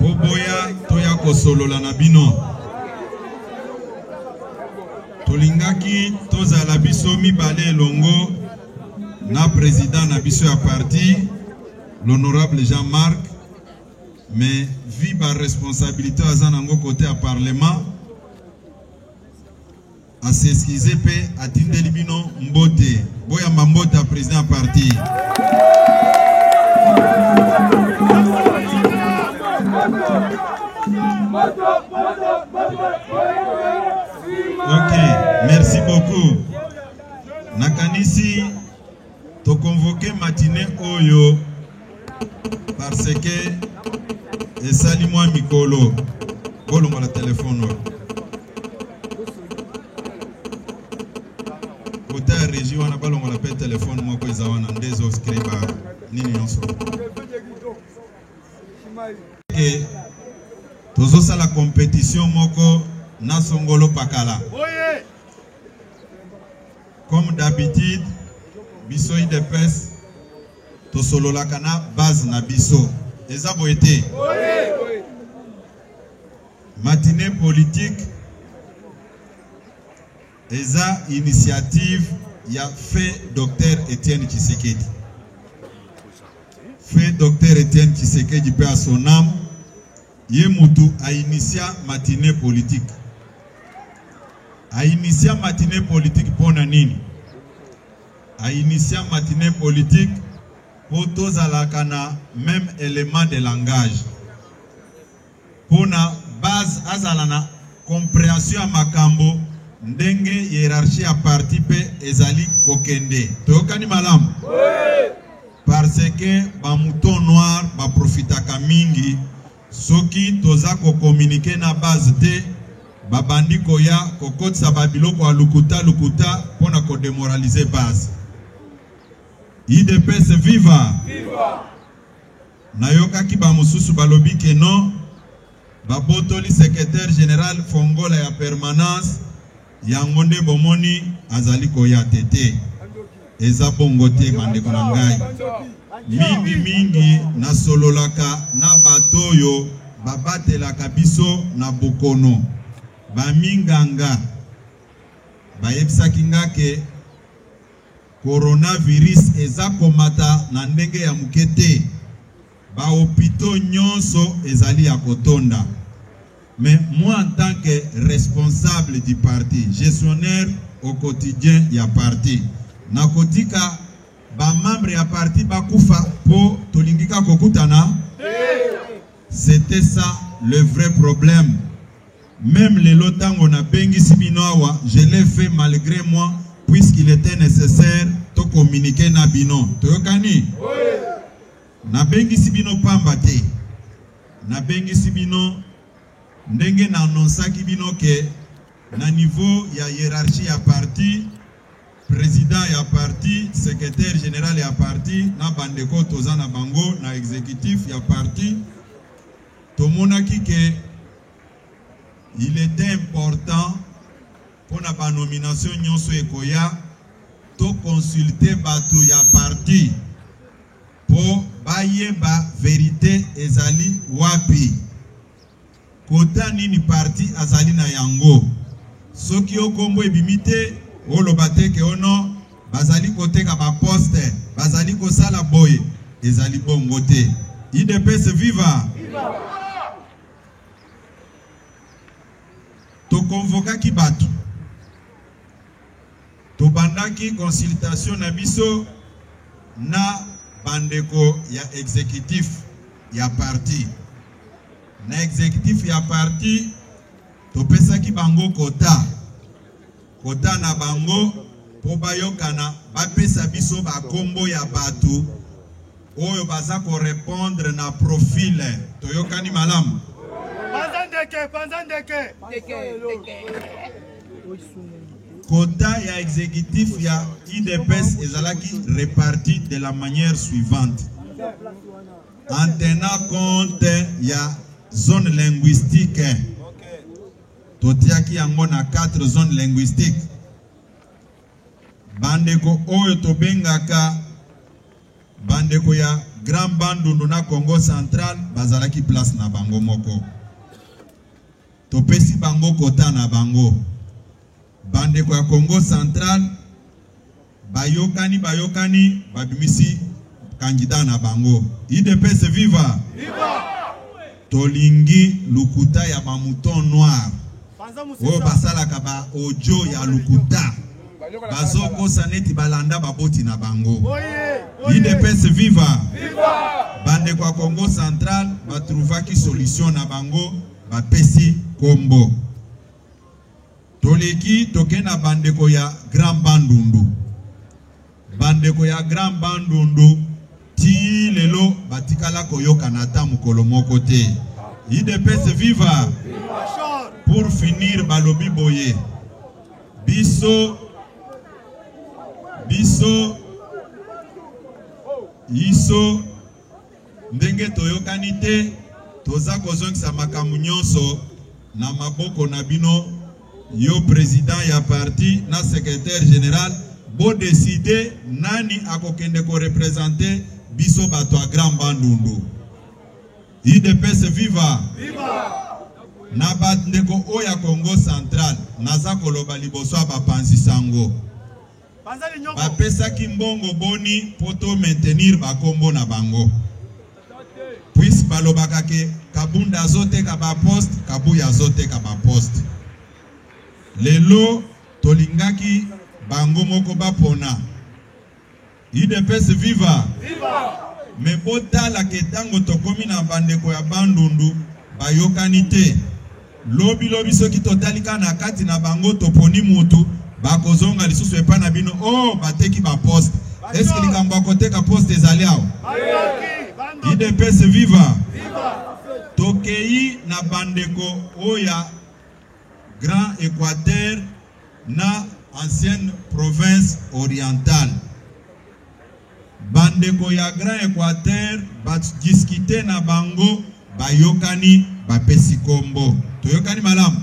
Boboya toya kosolola na bino. Tolingaki tozala biso mibale elongo na president na biso ya parti l'honorable Jean-Marc mais vie ba responsabilité aza nango côté ya parlement A s'excuser mpe atindeli bino mbote. Boyamba mbote ya president ya parti. Ok, merci beaucoup. Nakanisi To convoquer matinee oyo parce que esali mwa mikolo bolongola telefone oyo kota ya régie wana balongola mpe telefone moko eza wana nde ezoscre ba nini nyonso ke tozosala competition moko na songolo pakala Oye! Comme d'habitude, biso IDPS tosololaka na base na biso. Eza boye te? Matinée politique eza initiative ya feu Docteur Etienne Tshisekedi. Feu Docteur Etienne Tshisekedi paix à son âme. Ye mutu a initia matinee politique. A initia matinee politique pona nini? A initia matinee politique po tozalaka na meme element de langage. Pona base azala na comprehension ya makambo ndenge hierarchie ya parti pe ezali kokende. Toyokani malamu? Oui! Parce que ba moutons noirs ba profitaka mingi soki toza ko communiquer na base te, babandi koya kokotisa ba biloko ya lukuta lukuta pona ko demoraliser base. Udps viva! Viva! Nayokaki ba mosusu balobi que non, babotoli secretaire general fongola ya permanence. Yango nde bomoni azali koya te te. Eza bongo te bandeko na ngai. Mingi mingi nasololaka na bato oyo babatelaka biso na bokono. Ba minganga bayebisaki nga ke coronavirus eza komata na ndenge ya moke te. Ba hopitaux nionso ezali ya kotonda mais moi en tant que responsable du parti, gestionnaire au quotidien ya parti nakotika ba membres ya parti bakufa po tolingi kaka kokutana te? C'etait ça le vrai problème. Meme lelo tango nabengisi bino awa, je l'ai fait malgre moi puisqu'il était necessaire to communiquer na bino. Toyokani? Oui. Nabengisi bino pamba te, nabengisi bino ndenge na annonsaki bino que na niveau ya hierarchie ya parti, president ya parti, secretaire general ya parti na bandeko toza na bango na executif ya parti, tomonaki que il était important mpo na ba nomination nyonso ekoya to consulter bato ya parti. Po bayeba verite ezali wapi. Quota nini parti azali na yango? Soki yo kombo ebimi te, oloba te ke oh non, bazali koteka ba poste, bazali kosala boye. Ezali bongo te. Udps viva! Viva! tokonvokaki bato Tobandaki consultation na biso na bandeko ya executif ya parti. Na executif ya parti, topesaki bango quota, quota na bango mpo bayokana, bapesa biso ba kombo ya batu. Oyo baza ko repondre na profile toyokani malamu? Panza ndeke, panza ndeke. Quota ya executif ya UDPS ezalaki reparti de la manière suivante. En tenant compte ya zone linguistique totiaki yango na 4 zone linguistique bandeko oyo tobengaka Bandeko ya Grand Bandundu na Kongo Central bazalaki place na bango moko. Topesi bango kota na bango. Bandeko ya Kongo Central bayokani bayokani babimisi candidat na bango. IDPS viva! Viva! Tolingi lokuta ya ba mouton noir oyo basalaka ba audio ya lokuta bazokosa neti balanda baboti na bango idps viva bandeko ya congo central batrouvaki solution na bango bapesi kombo Toleki toke na bandeko ya Grand Bandundu. Bandeko ya Grand Bandundu ti lelo batikala koyokana ata mokolo moko te. Idps viva! Pour finir balobi boye biso biso iso Ndenge toyokani te, toza kozongisa makambo nyonso na maboko na bino. Yo president ya parti na secretaire general, bo decider nani akokende ko representer biso bato ya Grand Bandundu. UDPS viva! Viva! Na bandeko oyo ya Congo central, naza koloba liboso ya bapanzi sango. Bapesaki mbongo boni mpo to maintenir ba kombo na bango? Puisse balobaka ke Kabund azoteka ba poste, Kabuya azoteka ba poste. Lelo tolingaki bango moko bapona. Udps viva! Mais botala ke tango tokomi na bandeko ya Bandundu bayokani te. Lobi lobi soki totali kaka na kati na bango toponi mutu bakozonga lisusu epa na bino oh bateki ba poste est ce que likambo ya koteka poste ezali awa idps viva tokei na bandeko oya grand equateur na ancienne province orientale Ba ndeko ya grand equateur ba discuter na bango bayokani ba pesi kombo. Toyokani malamu?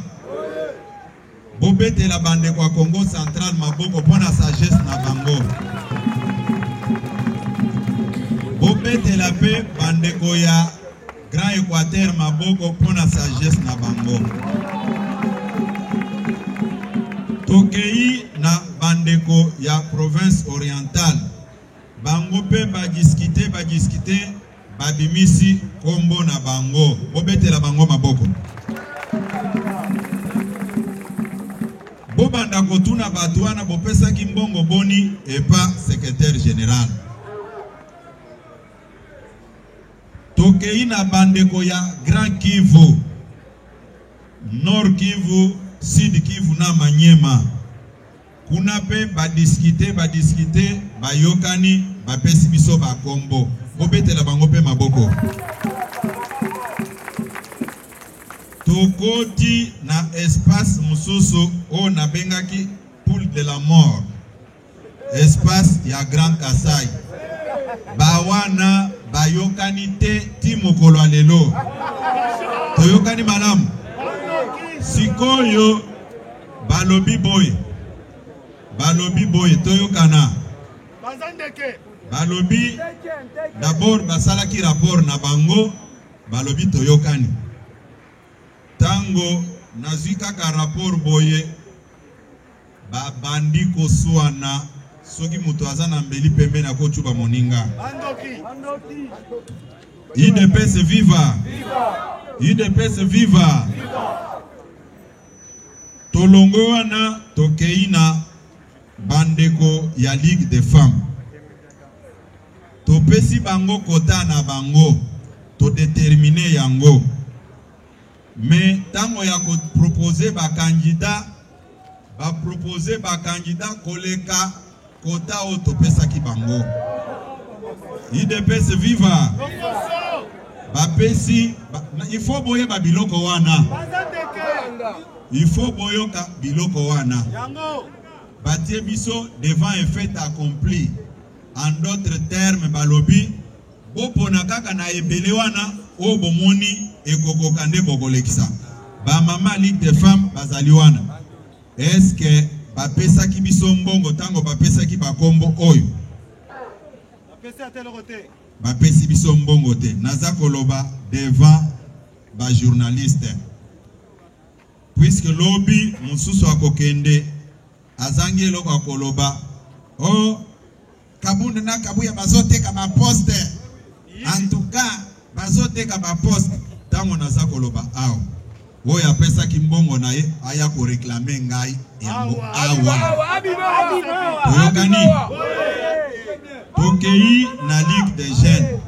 Bo betela ba ndeko ya Kongo central maboko mpo na sagesse na bango. Bo betela mpe ba ndeko ya Grand Equateur maboko mpo na sagesse na bango. Tokei na bandeko ya province orientale, bango mpe badiskite badiskite babimisi nkombo na bango, bobetela bango maboko. Bobanda kotuna bato wana bopesaki mbongo boni epa secretaire general. Tokei na bandeko ya Grand Kivu, Nord Kivu, Sud Kivu na Maniema. Kuna pe ba discuter, ba discuter, bayokani, bapesi biso ba kombo. Bobetela bango pe maboko. Tokoti na espace mosusu oyo nabengaki poule de la mort. Espace ya grand kasai ba wana bayokani te ti mokolo ya lelo toyokani malamu sikoyo balobi boye balobi boye toyokana balobi dabord basalaki rapport na bango balobi toyokani ntango nazwi kaka rapport boye Ba bandi ko suana soki mutu aza na mbeli pembeni ako tshuba moninga. Ba ndoki. Ba ndoki. UDPS viva! UDPS viva! Tolongo wana tokei na bandeko ya Ligue des femmes. Topesi bango kota na bango, todetermine yango. Mais tango ya ko proposer ba candidats, ba proposer ba candidats koleka quota oyo topesaki bango. Udps viva! Bapesi, ba, il faut boyeba biloko wana. Il faut boyoka biloko wana. Batie biso devant un fait accompli. En d'autres termes, balobi Bopona kaka na ebele wana oyo bomoni ekokoka nde bokolekisa. Ba mama Ligue des femmes bazali wana. Est-ce que bapesaki biso mbongo tango bapesaki ba kombo oyo? Bapesi ata eloko te. Bapesi biso mbongo te. Naza koloba devant ba journalistes. Puisque lobi mosusu akokende azangi eloko akoloba. Oh Kabund na Kabuya bazoteka ba poste. En tout cas, bazoteka ba poste. Tango naza koloba awa. Oyo apesaki mbongo na ye aya ko reclamer ngai yango awa. Oyokani? Tokei na Ligue des Jeunes.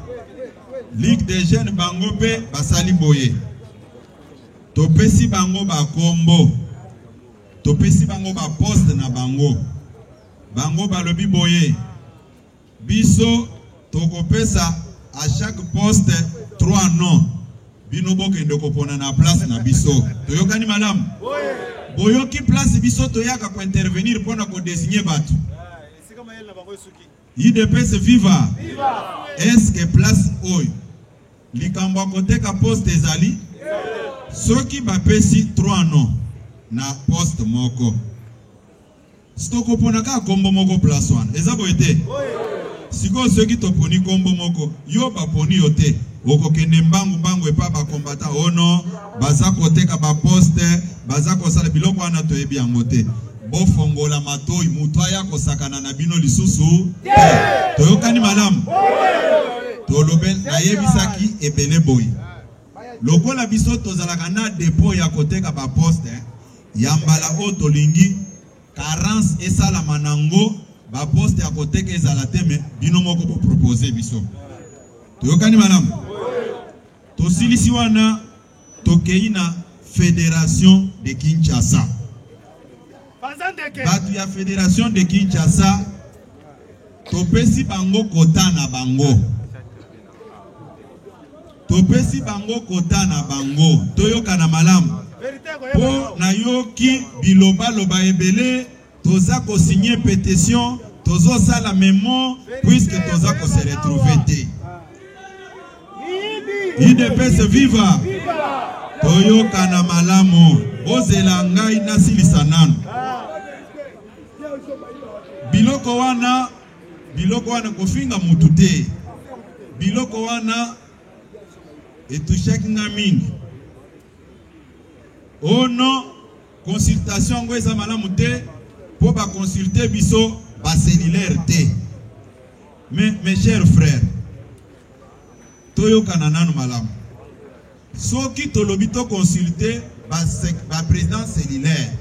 Ligue des Jeunes bango mpe basali boye. Topesi bango ba kombo. Topesi bango ba poste na bango. Bango balobi boye, Biso tokopesa à chaque poste trois noms, bino bokende kopona na place na biso. Toyokani malamu? Boyoki place biso toyaka ko intervenir mpo na ko designer bato? udps viva eske place oyo likambo ya koteka poste ezali soki bapesi 3 non na poste moko Sikoyo kopona kaka kombo moko place wana eza boye te? Sikoyo soki toponi kombo moko yo baponi yo te okokende mbangu mbangu epa ba combattant oh non baza koteka ba poste baza kosala biloko wana toyebi yango te. Bofongola matoyi mutu aya kosakana na bino lisusu te. Toyokani malamu? Tolobe nayebisaki ebele boye. Lokola biso tozalaka n'a depot ya koteka ba poste ya mbala oyo tolingi carence esalama na ngo ba poste ya koteka ezala te me bino moko bo proposer biso toyokani malamu tosilisi wana tokei na federation de Kinshasa bato ya federation de Kinshasa topesi bango kota na bango Topesi bango kota na bango. Toyokana malamu. Po na yoki biloba loba ebele toza ko signer petition tozo sala memo puisque toza ko se retrouver te. Udps viva! Toyokana malamu. Bozela ngai nasilisa nanu. Biloko wana Biloko wana kofinga mutu te biloko wana etouchaki nga mingi oh non consultation yango eza malamu te mpo baconsulte biso bacellulaire te mais mes chers frères toyokana nanu malamu soki tolobi toconsulte baprésident cellulaire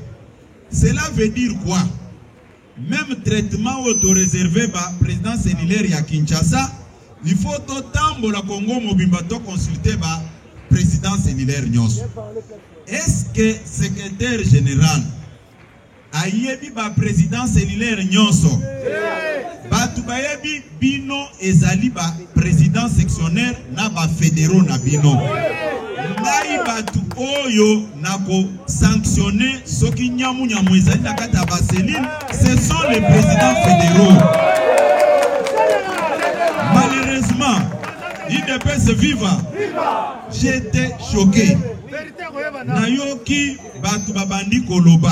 cela veut dire quoi Meme traitement oyo to reserver ba president cellulaire ya Kinshasa, il faut to tambola Congo mobimba to consulter ba president cellulaire nyoso. Est-ce que secretaire general ayebi ba president cellulaire nyoso? Batu bayebi Bino ezali ba president sectionnaire na ba federaux na bino. Ngai batu oyo nako sanctionner soki nyamu nyamu ezali na kati ya ba cellules, ce sont les presidents federaux. Malheureusement, IDPS viva. J'étais choqué. Nayoki batu babandi koloba.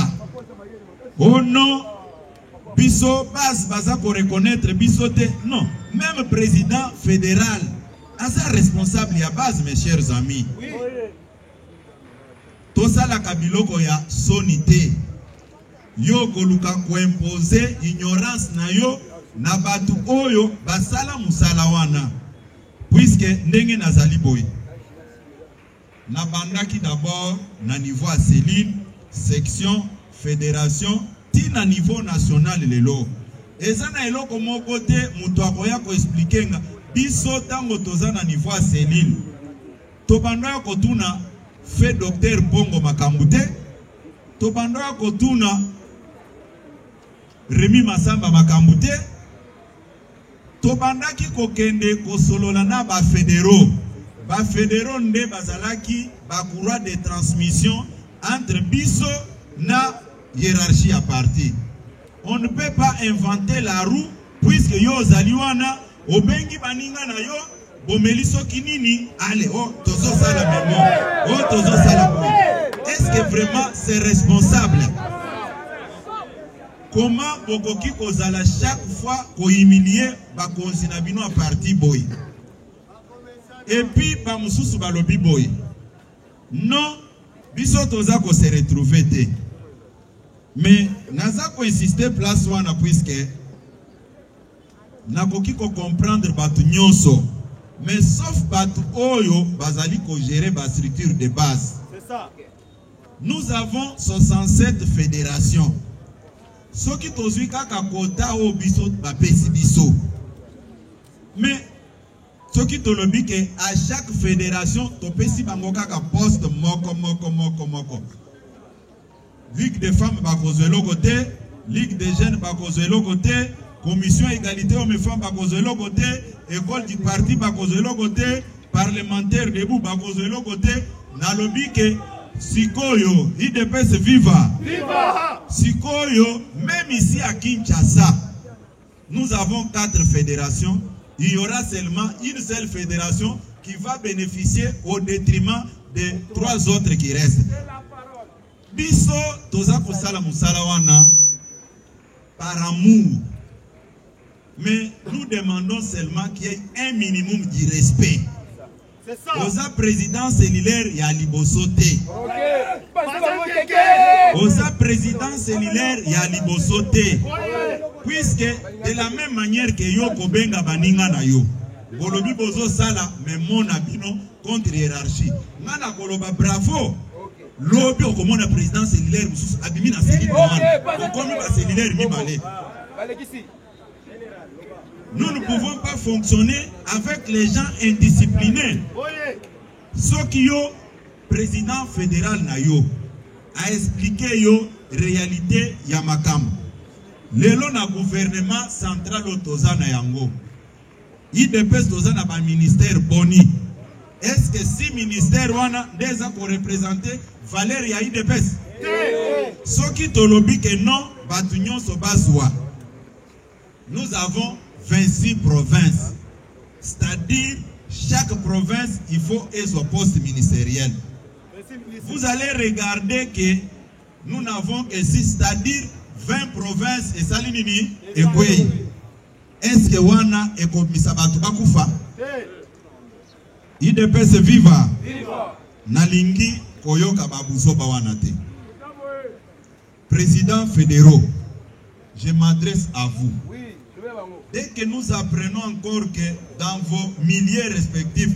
Oh non, Biso base baza ko reconnaitre biso te non meme president federal aza responsable ya base mes chers amis tosalaka biloko ya soni te yo koluka koimpose ignorance na yo na bato oyo basala mosala wana puiske ndenge nazali boye Nabandaki d'abord na niveau ya cellule, section, federation ti na niveau national lelo eza na eloko moko te mutu akoya ko expliquer nga biso tango toza na niveau ya cellule tobandaka kotuna fe docteur Bongo makambu te tobandaka kotuna Remy Masamba makambu te Tobandaki kokende kosolola na ba federaux. Ba federaux nde bazalaki ba courroies de transmission entre biso na hierarchie ya parti. On ne peut pas inventer la roue puisque yo ozali wana obengi baninga na yo bomeli soki nini ale o oh, tozosala memo o oh, tozosala est-ce que vraiment c'est responsable Comment bokoki kozala chaque fois ko humilier bakonzi na bino ya parti boye? Et puis ba mususu balobi boye non biso toza ko se retrouver te mais naza ko insister place wana puisque nakoki ko comprendre bato nyonso mais sauf bato oyo bazali ko gérer ba structure de base Nous avons 67 federations soki tozwi kaka kota oyo biso bapesi biso mais soki tolobi ke à chaque federation topesi bango kaka poste moko moko moko moko ligue des femmes bakozwa eloko te ligue des jeunes bakozwa eloko te commission égalité homme femme bakozwa eloko te école du parti bakozwa eloko te Parlementaires debout bakozwa eloko te nalobi ke sikoyo idps viva viva sikoyo meme ici à Kinshasa nous avons quatre fédérations il y aura seulement une seule fédération qui va bénéficier au détriment des trois autres qui restent biso toza kosala mosala wana par amour. Mais nous demandons seulement qu'il y ait un minimum du respect. C'est ça. Oza président cellulaire ya liboso te. Oza président cellulaire ya liboso te. Puisque de la même manière que yo kobenga baninga na yo. Bolobi bozo sala mais mona bino contre hiérarchie. Nga na koloba bravo. Lobi okomona president cellulaire mususu abimi na cellule wana okomi ba cellulaire mibale. Nous ne pouvons pas fonctionner avec les gens indisciplinés. Soki yo président fédéral na yo a expliqué yo réalité ya makambo lelo na gouvernement central oyo toza na yango Udps toza na ba ministère boni? Est ce que si ministère wana nde eza ko represente valeur ya udps? Soki tolobi que non batu nyonso bazwa. Nous avons 26 provinces. C'est-à-dire chaque province il faut ezwa poste ministériel. Vous allez regarder que nous n'avons que 6 c'est-à-dire 20 provinces esali nini? Ekwei. Est-ce que wana ekobimisa batu bakufa? Udps viva! Nalingi koyoka ba buzoba wana te. Président fédéraux, je m'adresse à vous. Dès que nous apprenons encore que dans vos milliers respectifs,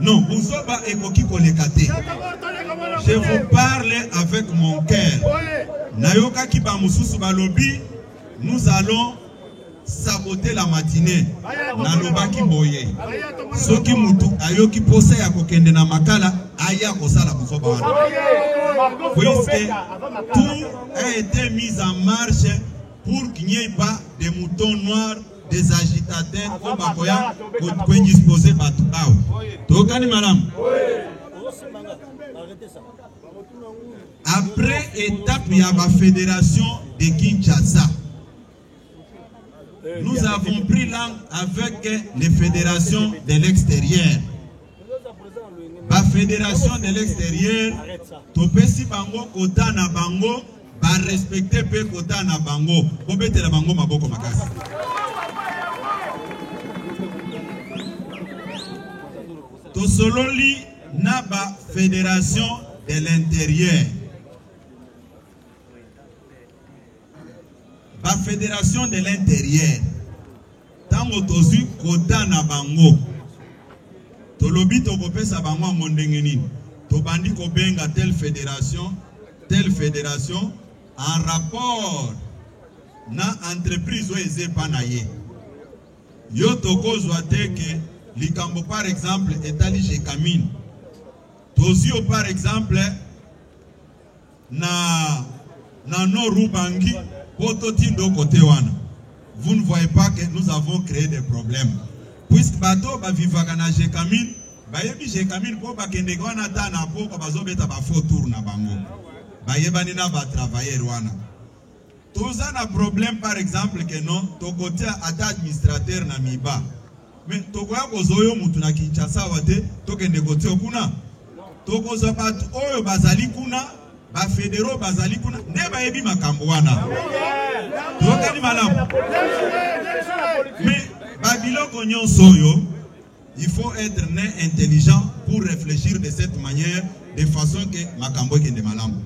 Non, buzoba ekoki koleka te. Je vous parle avec mon cœur. Nayokaki ba mususu balobi nous allons saboter la matinée. Nalobaki boye. Soki mutu ayoki posa ya kokende na makala aya kosala buzoba wana. Puisque tout a été mis en marche pour qu'il n'y ait pas de moutons noirs des agitateurs oyo bakoya koindispose bato awa tokani malamu après étape ya bafédération de kinshasa nous avons pris langue avec les fédérations de l'extérieur ba federation de l'exterieur topesi bango kota na bango barespecte mpe kota na bango kobetela bango maboko makasi tosololi na ba federation de l'intérieur ba federation de l'intérieur Ntango tozwi quota na bango, tolobi tokopesa bango yango ndenge nini? Tobandi kobenga telle federation, telle federation en rapport na entreprise oyo eza epa na ye. Yo tokozwa te ke likambo par exemple etali Jecamine, tozwi yo par exemple Na na nord Ubangi, poto ti ndo cote wana. Vous ne voyez pas que nous avons cree des problèmes. Puisque bato ba vivaka na Jekamine, bayebi Jekamine po bakendeka wana ata na poko bazobeta ba faux tour na bango. Bayebani na ba travailleurs wana. Toza na problème par exemple que non tokotia ata administrateur na miba mais tokoya kozwa yo mutu na Kinshasa awa te tokende kotio kuna tokozwa bato oyo bazali kuna bafedero bazali kuna nde bayebi makambo wana tokani malamu me babiloko nyonso oyo Il faut etre ne intelligent pour reflechir de cette manière de façon que makambo ekende malamu.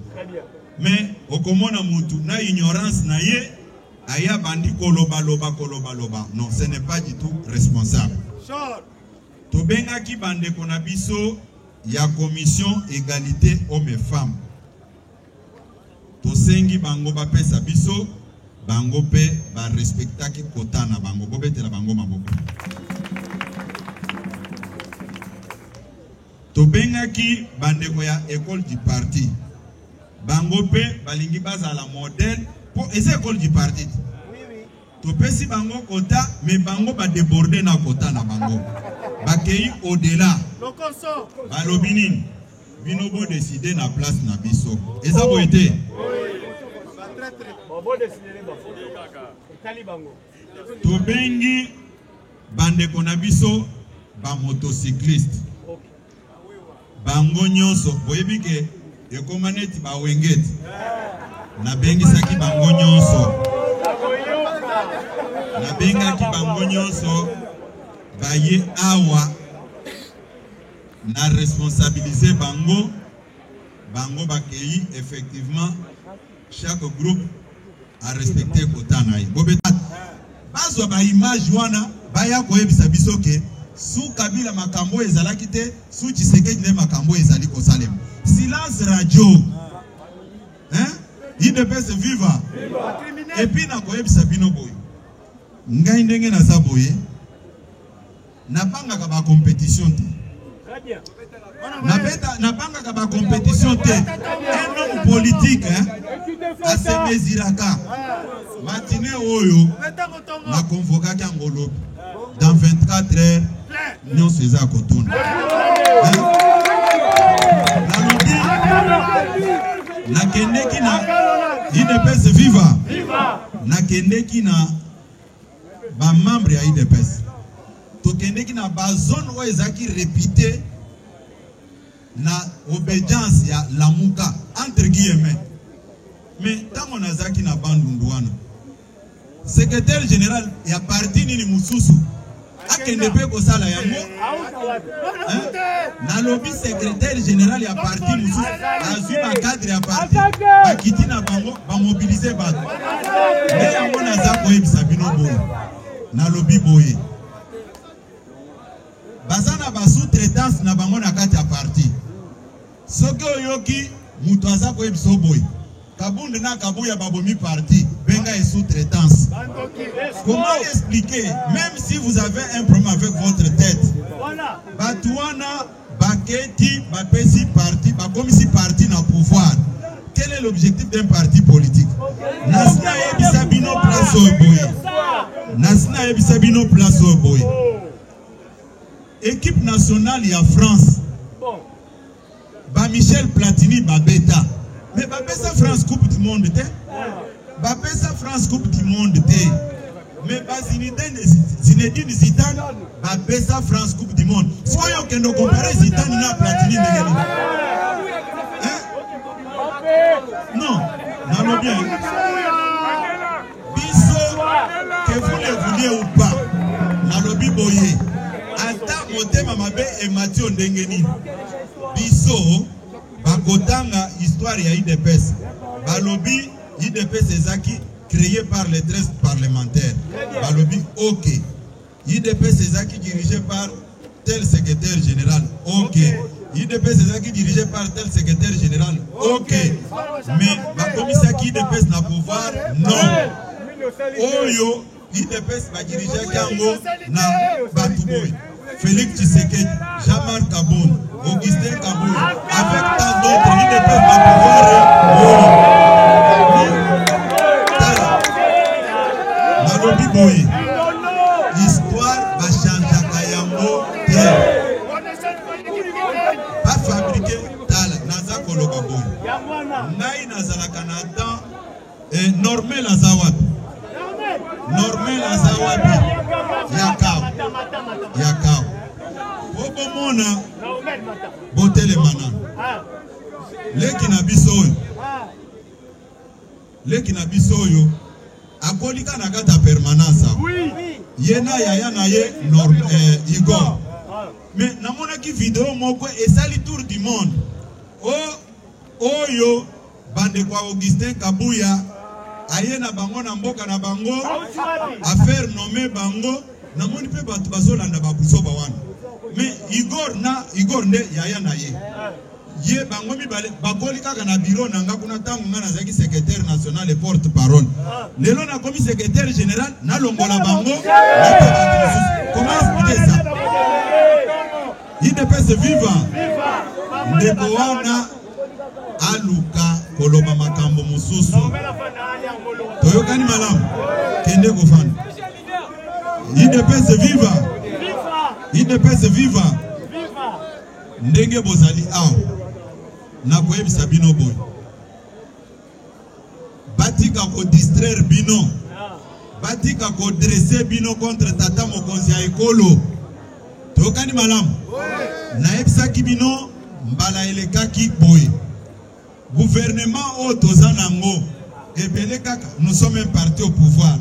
Mais okomona mutu na ignorance na ye aya bandi koloba loba koloba loba. Non, ce n'est pas du tout responsable. Tobengaki bandeko na biso ya commission egalite homme femme Tosengi bango bapesa biso, bango mpe ba respectaki quota na bango. Bobetela bango maboko. Tobengaki bandeko ya Ecole du Parti. Bango mpe balingi bazala modèle mpo eza Ecole du Parti. Topesi bango quota mais bango ba deborder n'a quota n'a bango. Bakeyi au delà. Balobi nini? Bino bo decider na place na biso. Eza boye te? Tobengi bandeko na biso ba motocycliste. Bango nyonso boyebi ke ekoma neti ba wengeti nabengisaki bango nyonso nabengaki bango nyonso baye awa na responsabilise bango bango bakei effectivement Chaque groupe a respecter quota na ye. Bobeta bazwa ba image wana baya koyebisa biso ke su Kabila makambo oyo ezalaki te, su Tshisekedi nde makambo oyo ezali kosalema. Silence radio. Hein? Idps viva. Et puis nakoyebisa bino boye. Ngai ndenge naza boye. Nabangaka ba competition te. Nabeta, nabangaka ba competition te. Un homme politique hein, asemeziraka matine oyo na convokaki yango lobi dans 24 heures nyonso eza ya kotuna nalobi nakendeki na idps viva nakendeki na Ba membres ya udps tokendeki na ba zones oyo ezalaki repute na obedience ya lamuka entre guillemets mais ntango nazalaki na bandundu wana secretaire general ya parti nini mosusu akende pe kosala yango nalobi secretaire general ya parti mosusu azwi bacadre ya parti bakiti na bango bamobilize bato nde yango naza koyebisa bino boye nalobi boye baza na basous-traitance na bango na kati ya parti Soki oyoki mutu aza koyebisa yo boye kabund na kabuya babomi parti benga ye sous traitance comment expliquer même si vous avez un problème avec votre tête batu wana baketi bapesi parti bakomisi parti na pouvoir quel est l'objectif d'un parti politique nasi nayebisa bino place oyo boye nasi nayebisa bino place oyo boye équipe nationale ya france Ba Michel Platini ba beta. Mais ba pesa France Coupe du Monde te. Ba pesa France Coupe du Monde te. Mais ba Zinedine Zinedine Zidane ba pesa France Coupe du Monde. Sikoyo kendo comparer Zidane na Platini ndenge nini? Hein? Non, nalobi. Biso que vous le vouliez ou pas nalobi boye ata motema mabe emati yo ndenge nini biso bakotanga histoire ya udps balobi udps ezaki cree par les 13 parlementaires balobi ok Udps ezalaki dirige par tel secrétaire général. Ok. Udps ezalaki dirige par tel secrétaire général. Ok. Mais bakomisaki Udps na pouvoir? Non. Oyo Udps badirigeaki yango na bato boye. Félix Tshisekedi, Jean-Marc Kabund. Augustin Kabuya avec tant d'autres ils ne peuvent pas pouvoir nalobi boye histoire bachangeaka yango te bafabrike tala naza koloba boye ngai nazalaka na temps Eh, Normel aza wapi? Normel aza wapi? Yakao. Yakao. Okomona botelema nanu. Leki na biso oyo. Leki na biso oyo akolika na kati ya permanence awa. Ye na yaya na ye Norm, eh, Igor. Mais namonaki video moko esali tour du monde. Oh, oyo Bandeko ya Augustin Kabuya aye na bango na mboka na bango a faire nommer bango namoni mpe bato bazolanda babuzoba wana mais Igor na Igor nde yaya na ye ye bango mibale bakoli kaka na biro na nga kuna ntango nga nazalaki secrétaire national et porte parole lelo nakomi secrétaire général nalongola bango koma explike sa idps viva ndeko wana aluka koloba makambo mosusu. Toyokani malamu? Kende kofanda. Idepese viva! Idepese viva! Ndenge bozali awa, nakoyebisa bino boye batika ko distraire bino batika ko dresse bino contre tata mokonzi ya ekolo tokani malamu nayebisaki bino mbala elekaki boye guvernema oyo toza nango ebele kaka nous sommes un parti au pouvoir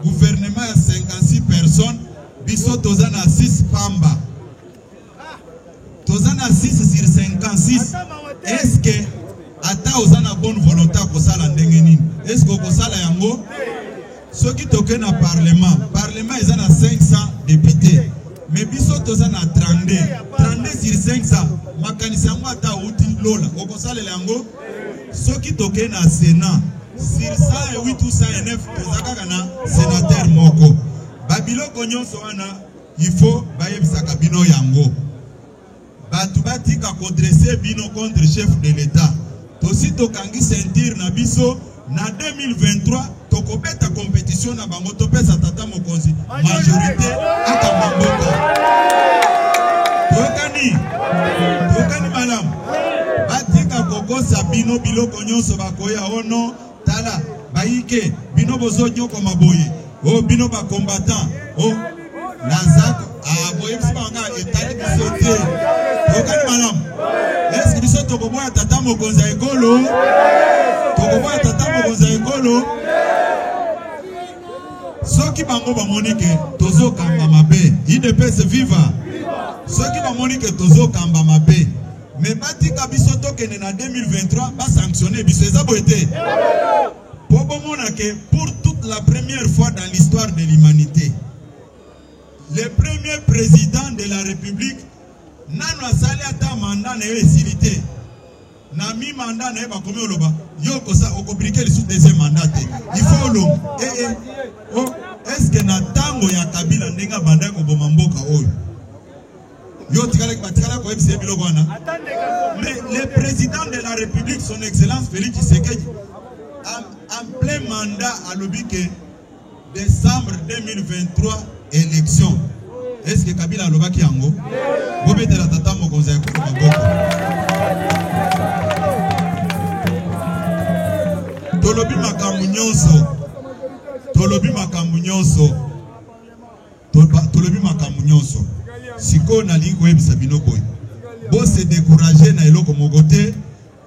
guvernema ya 56 personnes biso toza na 6 pamba toza na 6 sur 56 eske ata oza na bonne volonté akosala ndenge nini eske okosala yango soki toke na parlement parlement eza na 500 député mais biso toza na 32 32 sur 500 makanisi yango ata outi lola okosalela yango soki toke na sénat sur 108 ou 109 toza kaka na sénateur moko babiloko nyonso wana Il faut bayebisaka bino yango. Batu batika ko dresser bino contre chef de l'etat. Tosi tokangi ceinture na biso na 2023 tokobeta competition na bango topesa tata mokonzi majorité akamba mboka toyokani toyokani malamu batika kokosa bino biloko nyonso bakoya ono oh Tala bayike bino bozo nyoko maboye o oh, bino ba combattant o oh, naza ah, boyebisi banga etali biso te tokani malamu eske biso tokoboya tata mokonzi ya ekolo tokoboya tata mokonzi ya ekolo soki bango bamoni ke tozokamba mabe idps viva soki bamoni ke tozokamba mabe Mais batika biso tokende na 2023 ba sanctionner biso eza boye te po bomona ke pour toute la première fois dans l'histoire de l'humanité le premier président de la république nanu asali ata manda na yo esili te na mi manda na ye bakomi oloba yo okosa okobrike lisusu deuxième manda te il faut olonga ee eh, eh. oh, est ce que na ntango ya kabila ndenge abandaki koboma mboka oyo Yo otikalaki batikala koyebisa ye biloko wana. Mais le président de la République, son excellence Félix Tshisekedi, en, en plein mandat alobi que décembre 2023 élection. Est-ce que Kabila alobaki yango? Bobetela tata mokonzi ya ekolo maboko. Tolobi makambo nyonso. Tolobi makambo nyonso. Tolobi makambo nyonso sikoyo, nalingi koyebisa bino boye, bose decourage na eloko moko te.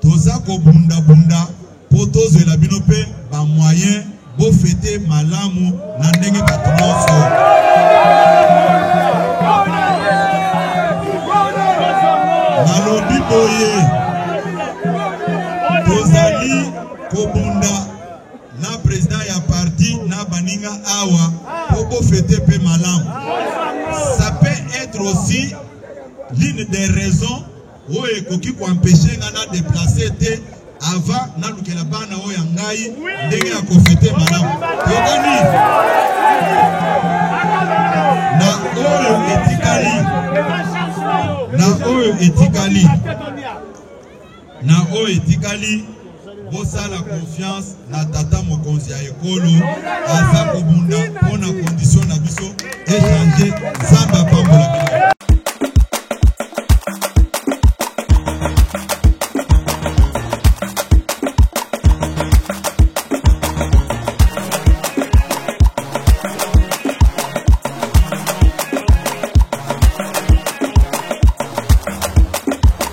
Toza kobundabunda mpo tozwela bino mpe bamoyen bofete malamu na ndenge bato nyonso nalobi boye tozali kobunda na president ya parti na baninga awa po bo fete pe malamu ça peut être aussi l'une des raisons oyo ekoki koempeshe nga na deplace te avant nalukela bana oyo ya ngai ndenge ya kofete malamu tokani na oyo etikali na oyo etikali Na oyo etikali, bosala confiance na tata mokonzi ya ekolo aza kobunda mpo na condition na biso echange. Nzambe apambola bino.